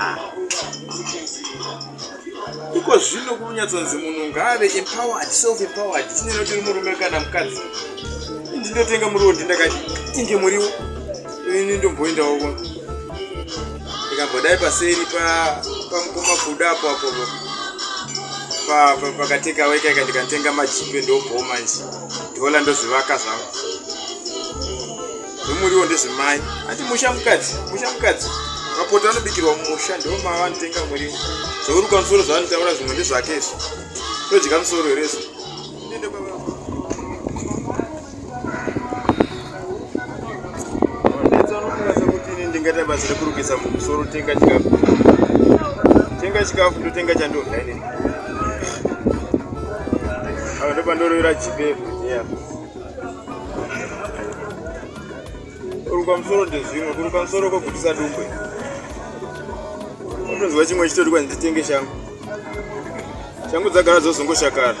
ah. iko zvino kunonyatsonzi munhu ngaave empowered self empowered tineno tiri murume kana mukadzi ndindotenga muriwo ndindakati inge muriwo ini ndomboendawo ndikambodai paseri pamukoma kuda apo apo pakateka wekaika ndikatenga majipe ndobhoma nje ndola ndozvivaka zvangu zvemuriwo ndezvemai ati musha mukadzi musha mukadzi mapoto anobikirwa mumusha ndiwo mava anotenga muriwo zvourukwa musoro zvaanotaura zvimwe ndezvake izvo todya musoro here izvo ndingaita basa rekurukisa mumusoro tenga chikafu tenga chikafu ndotenga chandodya inini ava ndopandoroira jipepo yeah. kuruka musoro ndezvimwe kuruka musoro kwogutisa dumbwe unonzwa chimwe chitori kwanzi nditenge shangu shangu dzagara dzozongoshakara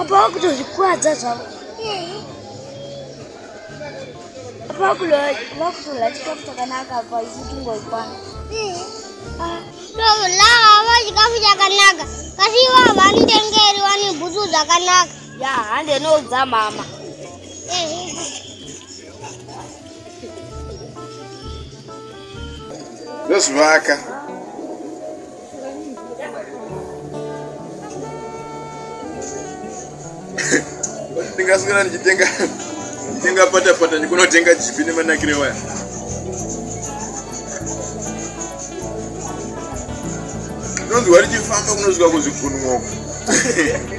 Apa kutozvikwadza zvavo apa vakutola chikafu chakanaka apa isitungoikwana Lava vachikafu chakanaka kasi ivo havanitengeri vane bhutsu dzakanaka ya hande noudza mama ndozvivaka ndingaswera ndichitenga tenga pata pata ndikunotenga chipi nemanakire waya ndonzi wari chifamba kunozvika kuzvigunumoko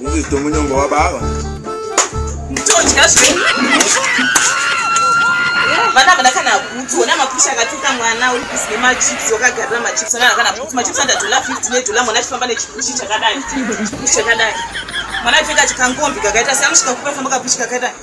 Ndizito munyongo wababa. Ndodya zvenyu. Vana vana kana bhutsu ona mapusha akatuka mwana uri busy nemachips wakagarira machips ana kana bhutsu machips anda dollar 50 nedollar mwana achifamba nechipushi chakadai. Chipushi chakadai. Mwana achipfeka chikankombi kakaita seamusvika kupa famba kapushi kakaita.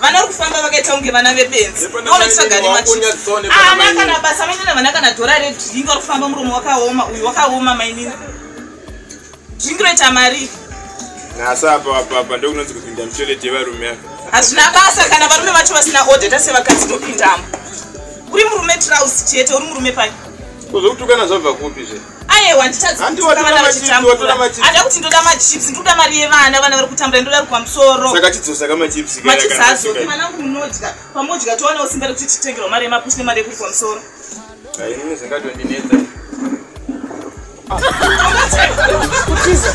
vana vari kufamba vakaita kunge vana vebenzi onotsvaga nemachiana ah, kana basa mainina vana kana dhora redringi vari kufamba muromo wakaoma uyu wakaoma mainina dringi roita mari nhasi apa apapa ndokunonzi kupinda mutoilet yevarume ava hazvina basa kana varume vacho vasina odeta sevakadzi nopindamo uri murume trouse chete uri murume pai kuzokutukana zvabva kupi zve ayewa nditadzikutukana vana vachitambura hada kuti ndoda machips ndikuda mari yevana vana vari kutambura ndoda rikwa musoro saka chidzosa kamachips machips hazoki vana vangu munodya pamodya towanawo simba rekuti titengerwa mari yemapushi nemari yekurikwa musoro inini zvingatondinetsa kutiza